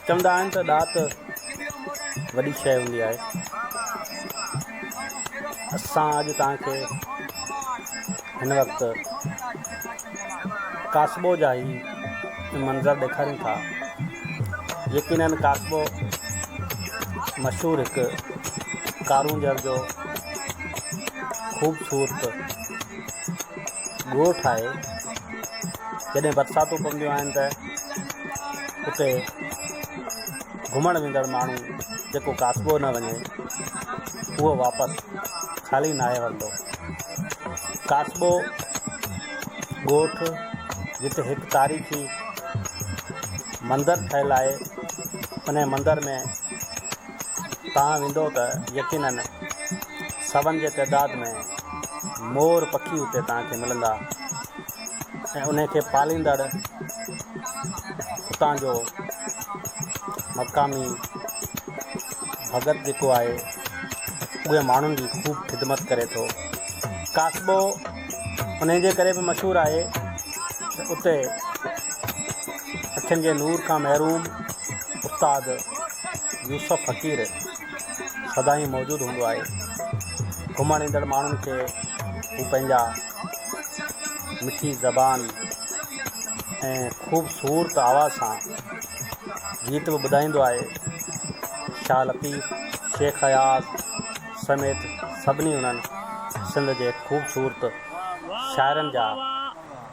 چوندا آهن ته ڏات وڏي شيء هوندي آهي. اسان اڄ توهان کي هن وقت ڪاسبو جا هي منظر ڏيکاريون ٿا. يقينن ڪاسبو مشهور هڪ ڪارونجهر جو خوبصورت ڳوٺ آهي جڏهن برساتون پونديون آهن ته اتي گهمڻ ويندڙ ماڻهو جيڪو ڪاسبو نه وڃي اهو واپس خالي ناهي ورتو ڪاسبو ڳوٺ جتي هڪ تاريخي مندر ٺهيل آهي ان مندر ۾ تان ويندو ته يقيناً سون جي تعداد ۾ مور پکي اتي تان کي ملندا ۽ انهي کي پاليندڙ اتان جو مقامي ڀڳت جيڪو آهي اهي ماڻهن جي خوب خدمت ڪري ٿو ڪاسبو انهي جي ڪري به مشهور آهي ته اتي اکين جي نور کان محروم استاد يوسف فقير سدائين موجود هوندو آهي گهمڻ ايندڙ ماڻهن کي هو پنهنجا مٺي زبان ۽ خوبصورت آواز سان گيت به ٻڌائيندو آهي شاهه لطيف شيخ اياز سميت سڀني انهن سنڌ جي خوبصورت شاعرن جا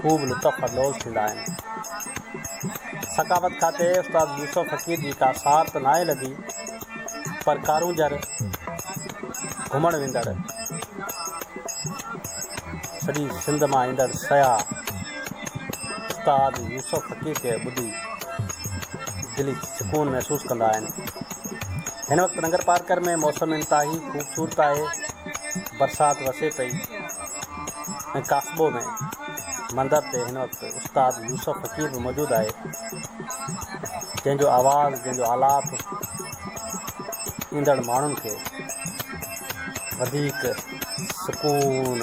خوب لطف اندوز ٿيندا آهن. ثقافت کاتي استاد يوسف فقير جي ڪا سار ته ناهي لڌي پر ڪارونجهر گهمڻ ويندڙ سڄي سنڌ مان ايندڙ سياح استاد يوسف فقير کي ٻڌي دلي سڪون محسوس ڪندا آهن هن وقت ننگر پارڪر ۾ موسم انتهائي خوبصورت آهي برسات وسي پئي ۽ ڪاسبو ۾ مندر تي هن وقت استاد يوسف فقير به موجود آهي جنهن جو آواز جنهن جو آلاپ ايندڙ ماڻهن کي وڌيڪ سڪون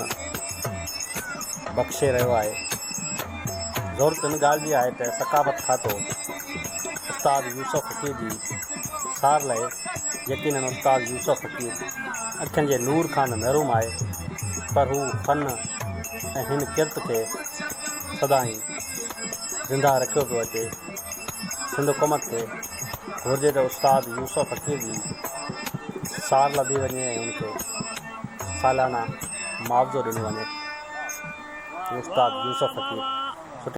بخشي رهيو آهي ضرورت ان ڳالهه جي آهي ته ثقافت کاتو استاد يوسف فقير جي سار لهي يقينن استاد يوسف فقير اکين جي نور کان محروم آهي پر هو فن ۽ هن ڪرت کي سدائين زندهه رکيو پيو اچي سنڌ حڪومت کي گهرجي ته استاد يوسف فقير جي سار لڌي وڃي ۽ ان کي سالانه معاوضو ڏنو وڃي استاد يوسف فقير